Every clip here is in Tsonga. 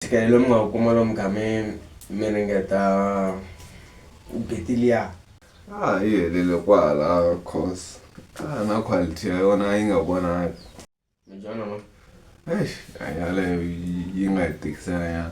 Ntshikelelo lowu mi nga wu kuma lomu mi kha mi mi ringeta u gate liya. A yi helele kwala course a na quality ya yona a yi nga vonaki. Minjhani mama. Eish a yaleyo yi nga hi tikisela nyana.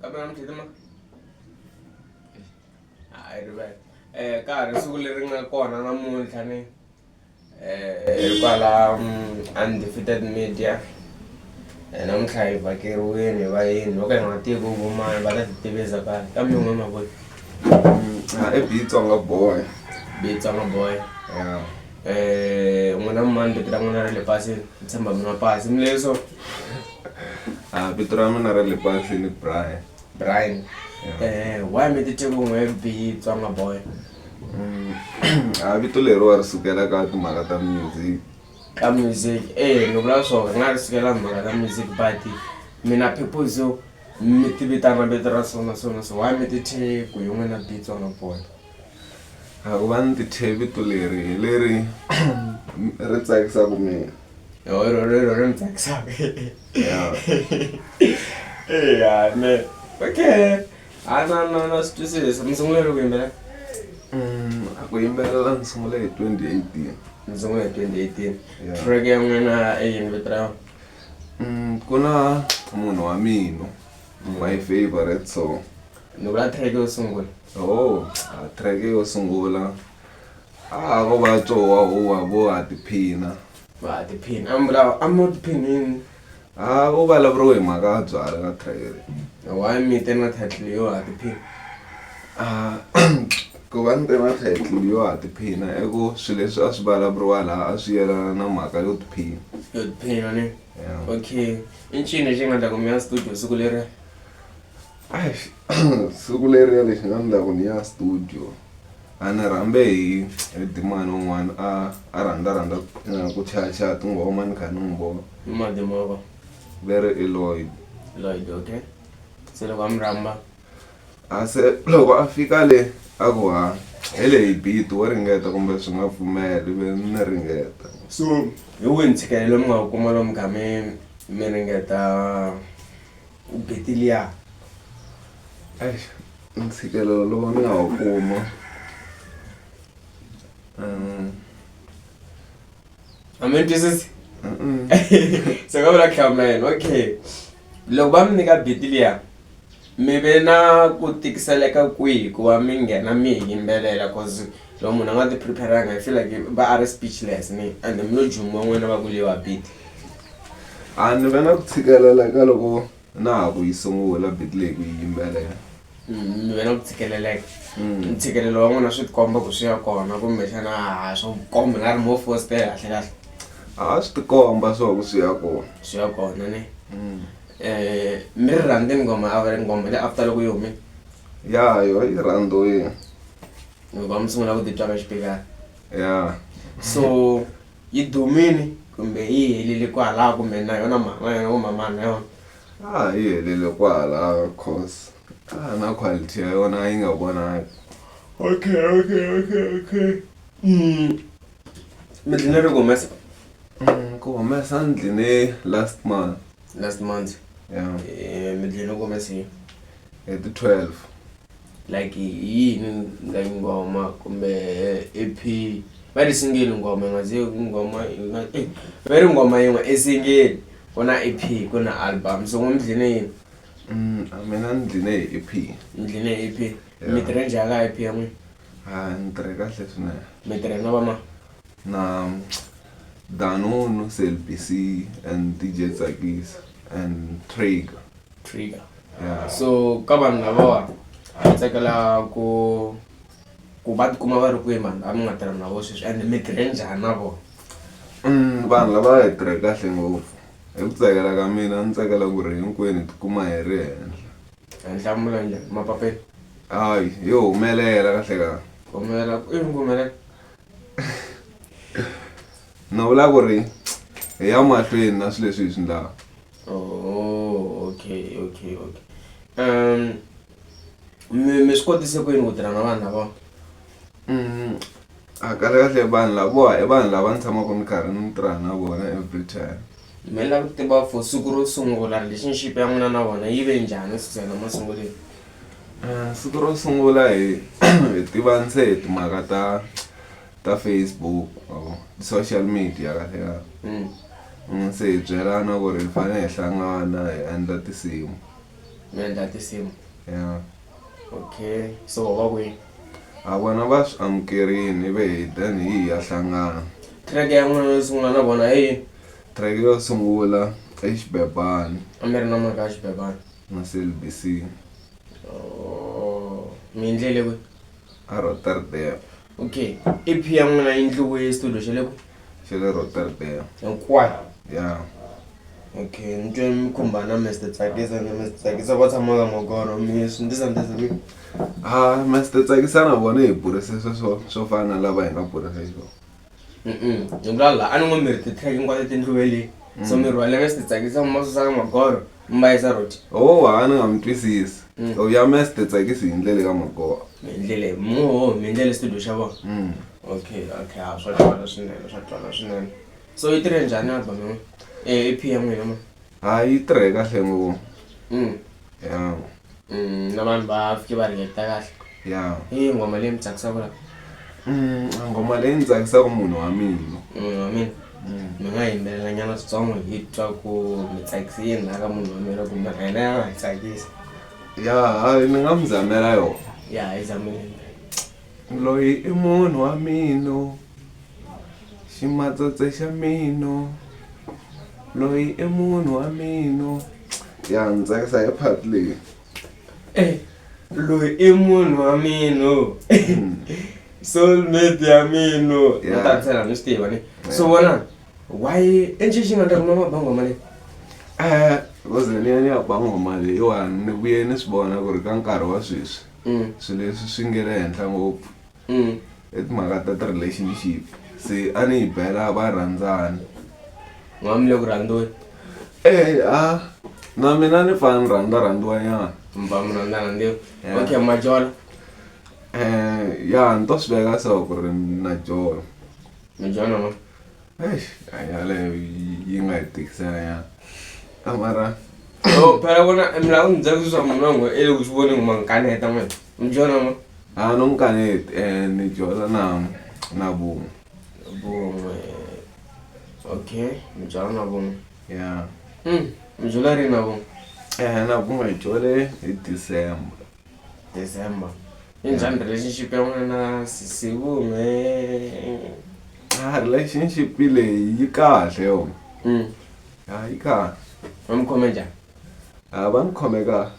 kambela mutshini ma hayi rivele um ka ha ri siku leri nga kona namuntlha ni um kwala undefeated media um namuntlha hi vhakeriwini hi vayini vo ka hi nga tivi vo mani va ta ti tivisa ka kambe n'we mavoni i bitsonga boy bitsonga boy ya Eh, n'wina mani vito ra n'wina ra le pasini ni tshemba mi nwa pasi mi leswo Ah, vito ra mina ra le pasini brian brian eh, why mi titeke ku n'we bihi tsonga boy Mm, a Ah, vito leriwa ri sukela ka timhaka ta music ka music eh ni vula swona ri nga ri sukela mhaka ta music but mina people so mi ti vitana vito ra so na so na so why mi tithe ku hi n'wina bihi tsonga boy hakuva ni tithe vito leri hi leri ri tsakisaka mina rero rero ri ni tsakisaka eya ne okay a na na na swi twisisa mi sungule ri ku yimbelela Mm, a ku yimbelela ni sungule hi 2018 mi sungule hi 2018 Yeah. track ya n'wina i yini vito ra yona Mm, ku na munhu wa mina my favorite song ni vula track yo sungula Oh, ah, track yo sungula. Ah, ko va tsowa huwa vo ha tiphina. Va ha tiphina. I'm la I'm not phinini. Ah, u vulavuriwe hi mhaka ya byala ka track leyi. Why mi te na title yo ha tiphina? Ah, ku va ni te na title yo ha tiphina i ku swilo leswi a swi vulavuriwa laha a swi yelana na mhaka yo tiphina. Yo tiphina ni. Yeah. Okay. I ncini lexi nga ta kumela studio siku leri? siku leriya lexi nga ni loko ni ya studio a ni rhambe hi hi dimani un'wana a a rhandza rhandza eh, ku chayachaya tinghoma ni kha ni n'wi vona ni madimova very eloid lloyd okay se loko a mi rhamba a se loko a fika le a ku ha hi le hi biti wo ringeta kumbe swi nga pfumeli ve ni ringeta so hi wihi ntshikelelo mi nga wu kuma lomu kha mi mi ringeta Beteliya. Eish, ntshikelelo lowu ni nga wu kuma um A mi ni twisisi? mm-mm. Se ka vula khama yena, okay. Loko va mi nyika Beteliya, mi ve na ku tikiseleka kwihi ku va mi nghena mi hi yimbelela cause loko munhu a nga ti prepare-anga i feel like va a ri speechless ni ende mi lo jumiwa n'wina va ku leyiwa beat. a ni ve na ku tshikelela eka loko na ha ku yi sungula bit leyi ku yi yimbelela ni ve na ku tshikeleleka ntshikelelo wa n'wina swi tikomba ku swi ya kona kumbexana ha swo komba nga ri mo fositela kahle kahle a swi tikomba swa ku swi ya kona swi ya kona ne um mi ri rhandzi nghoma a va ri nghoma le after loko yi hume ya yo yi rhandziwile hikuva mi sungula ku titwa ka xipikara ya so Yi dumile kumbe yi helile kwalaho kumbe na yona mhani wa yona kumbe mhani wa yona? A yi helile kwalaho coz a na quality ya yona a yi nga vonaki. Okay okay okay okay mi dlina ri ku humesa? Ku humesa ni dline last month. Last month? Yeah. Mi dlina ku humeseni? Hi ti twelve. like hi yini nga nghoma kumbe EP va ri single nghoma yi nga ze nghoma yi nga eh va ri nghoma yin'we i single ku na EP ku na album so n'we mi dline yini Mm, a mina ni dline hi E EP. mi dline EP Yeah. mi tirhe njhani ka EP ya n'wina Ah, ni tirhe kahle swinene. mi tirhe na vama Na Danunu, Selbc and DJ Tsakisa and Traeger. trigger yeah. so ka vanhu lavawa a hi tsakela ku ku va tikuma va ri kwihi mani a mi nga tirha na vo sweswi and mi tirhe njhani na vona mm, vanhu lava hi tirhe kahle ngopfu hi ku tsakela ka mina a ni tsakela ku ri hinkwenu hi tikuma hi ri henhla henhlamula eh, njhani mapapeni hayi yo humelela kahle ka humelela i mi humelela na vula ku ri hi ya mahlweni na swilo leswi hi swi ndlaka oh okay okay okay um mi mi swi kotise ku yini ku tirha na vanhu lavawa mm, a kahle kahle vanhu lavowa i vanhu lava ni tshamaka ni karhi ni tirha na vona every time mi lava ku tiva for siku ro sungula relationship ya n'wina na vona yi ve njhani suzana masunguleni Eh, siku ro sungula hi hi tivani se hi timhaka ta ka facebook ma vo social media kahle kahle Mm. Mm, se hi byelana ku ri hi fanele hi hlangana hi endla tinsimu mi endla tinsimu ya okay so wa kwini a vona va swi amukerini ivi hi then hi hi ya hlangana track ya n'wina yo sungula na vona hi yini track yo sungula i xibebani a mi ri na mhaka ya xibebana na clbc Oh, mi endlele kwi a roterdam okay i p ya n'wina yi ndliwe studio xa le ku xa le rotterdam hinkwayo ya okay ni twe mi khumbana mister tsakisa ni mister tsakisa va tshama ka magoro mi swi ndzi sandzisa mi a Ah, master tsakisa na vona hi burise swo swo swo fana na lava hi nga burise xiswona Mm-mm. hi vula la a ni ngo mi ri titlheke hinkwato tindluwe le so mi rhwale mister tsakisa mi ma susaka magoro mbayisa rot ho ha ni nga mi twisisi u ya mes ti tsakisi hi ndlele ka magoha hi ndlele muho mi ndlele studio xa vona mm. okay okay a swa twala swinene swa twala swinene so yi tirhe njhani album yin'we e p ya n'wina ma ha yi tirhe kahle ngopfu mm. ya Mm, na vanhu va fike va react kahle ya i nghoma leyi mi tsakisaka la Mm, ngoma leyi ndzi tsakisaka munhu wa mina munhu wa mina mi nga yimbelela nyana switsongo hi twa ku mi tsakise yini la ka munhu wa mina kumbe na yena ya nga hi tsakisa ya hayi ni nga mi zamela yona ya hi zamile loyi i munhu wa mino ximatsotse xa mino loyi i munhu wa mino ya ndzi tsakisa hi part leyi Eh, loyi i munhu wa mino soulmate ya mino Yeah. utavisela mi swi tiva ni so vona why i ncini xi nga ta kuma mabangoma leyi Eh, because ni ya ni ya ba ngoma leyiwani ni vuye ni swi vona ku ri ka nkarhi wa sweswi swilo leswi swi nge le henhla ngopfu mm. i timhaka ta ti-relationship se a ni yi bela va rhandzana n'wami le ku rhandziweni e eh, a ah, na mina ni fana ni rhandza rhandziwanyana mba mi rhandza rhandziwa okay majola um ya ni to swi veka so ku ri na jola majola ma Eish, hanya yaleyo yi- yi nga hi tikisela nyana a mara so phela vona milawu ni byela sweswi swa munhu wangu e loko swi voni ngoma ngikaneta n'we mi byona n'we a no mukaneti um ni dyondza na na vun'we vun'we okay mi byala na vun'we ya Mm, mi byala rini na vun'we um na vun'we hi dyole hi december December. I njhani relationship ya n'wina na sisi vume? Ah, relationship leyi yi kahle yo. Mm. Ah, yi kahle. Va mi khome njhani? Ah, va ni khome kahle.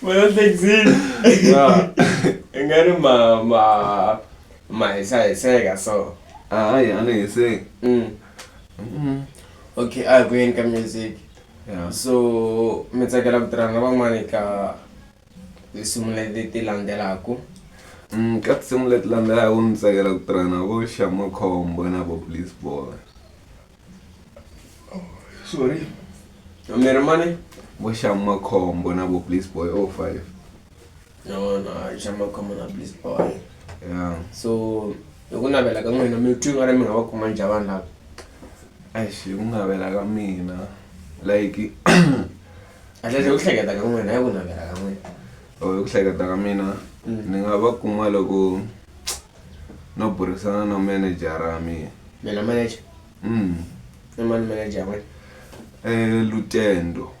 Wena hlekisile. Yeah. I nga ri ma ma ma hisa hiseka so. Ah, hayi a ni hiseki. Mm. Mm. Okay, a hi ku yeni ka music. ya so mi tsakela ku tirhana na van'wana eka tinsimu leti landzelaka mm, ka tinsimu leti landzelaka ni tsakela ku tirha na vo xamakhombo na vo police boy oh, sorry mi ri mani vo xamakhombo na vo police boy o oh five no no a xa makhomona please boy yeah. so hi ku navela ka n'wina mi twi nga ri mi nga va kuma njha vanhu lava eish hi ku navela ka mina like atlesle ku hleketa ka n'wina hi ku navela ka n'wina o oh, hi ku hleketa ka mina mm. ni nga va kuma loko no burisana na manejara ya mina mina manager mm. i mani manager ya n'wina um lutendo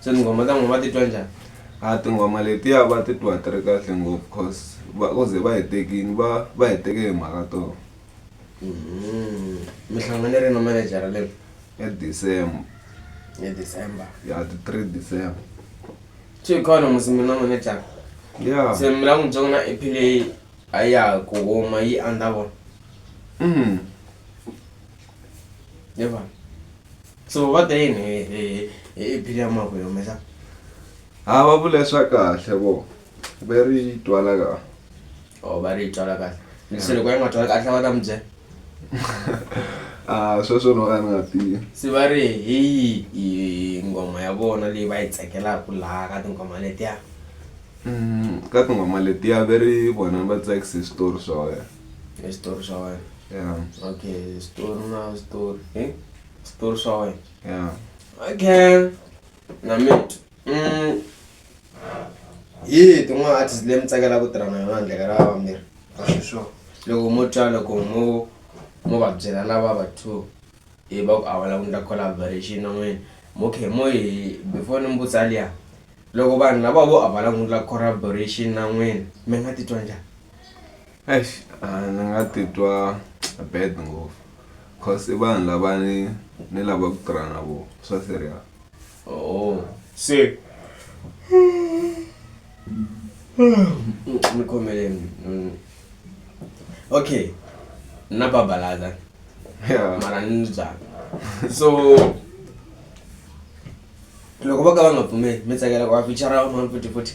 se tinghoma ta n'wina va titwa njhani a tinghoma letiya va titwa ti ri kahle ngopfu cause va ku ze va hi tekini va va hi teke hi mhaka toho mm-hmm. mi hlangane ri na manejara leyi hi december hi december ya ti three december swi hi khona musi mi na manejara ya se mi la n'wi byongo na ep leyi a ya ku huma yi andza vona mm-hmm. yevana so va te yini hi- hi- hi hi bili ya mako hi humesa ha va vule swa kahle vo ve ri twala ka o va ri yi twala kahle se loko yi nga twali kahle va ta mi byela a sweswo no ka ni nga tivi se va ri hi yi- yi nghoma ya vona leyi va yi tsakelaka laha ka tinghoma letiya Mm, ka tinghoma letiya ve ri vona va tsakise switori swa wena Hi switori swa wena yeah okay switori na switori hi switori swa wena yeah okay na mate mm hi tin'wana artist leyi mi tsakela ku tirha na yona handle ka lava vambirhi va sweswo loko mo twa loko mo mo va byela lava va two hi va ku a va lava ku endla collaboration na n'wina mo khe mo hi before ni mi vutisa liya loko vanhu lava vo a va lava ku endla collaboration na n'wina mi nga titwa njhani. eish a ni nga titwa bad ngopfu cause i vanhu lava ni ni lava ku tirha na vona swa serious oh se ni khomeleni Mm. okay na babalaza yeah mara ni ndzi byala so loko va ka va nga pfumeli mi tsakela ku va fichara van'wana futhi futhi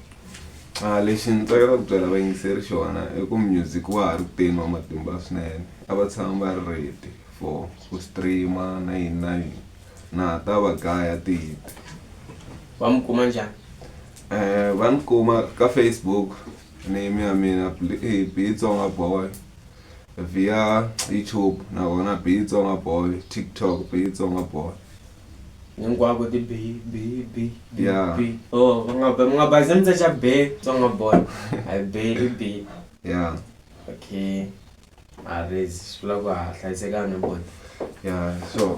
a lexi ni tsakela ku byela vayingiseri xona i ku music wa ha ri kuteni wa matimba swinene a va tshama va ri ready for ku streama na yini na yini na ha ta va gaya ti-hit va mi kuma njhani um va ni kuma ka facebook name ya mina Bl- eh, bitsonga boy via youtube na vona bitsonga boy tiktok bitsonga boy hinkwako ti bi bi bi bi Yeah. bi oh va nga ba mi nga ba ze mi tsa cha be tsonga boy i be i be ya okay a rezi swi vula ku ha hlayisekana boy ya so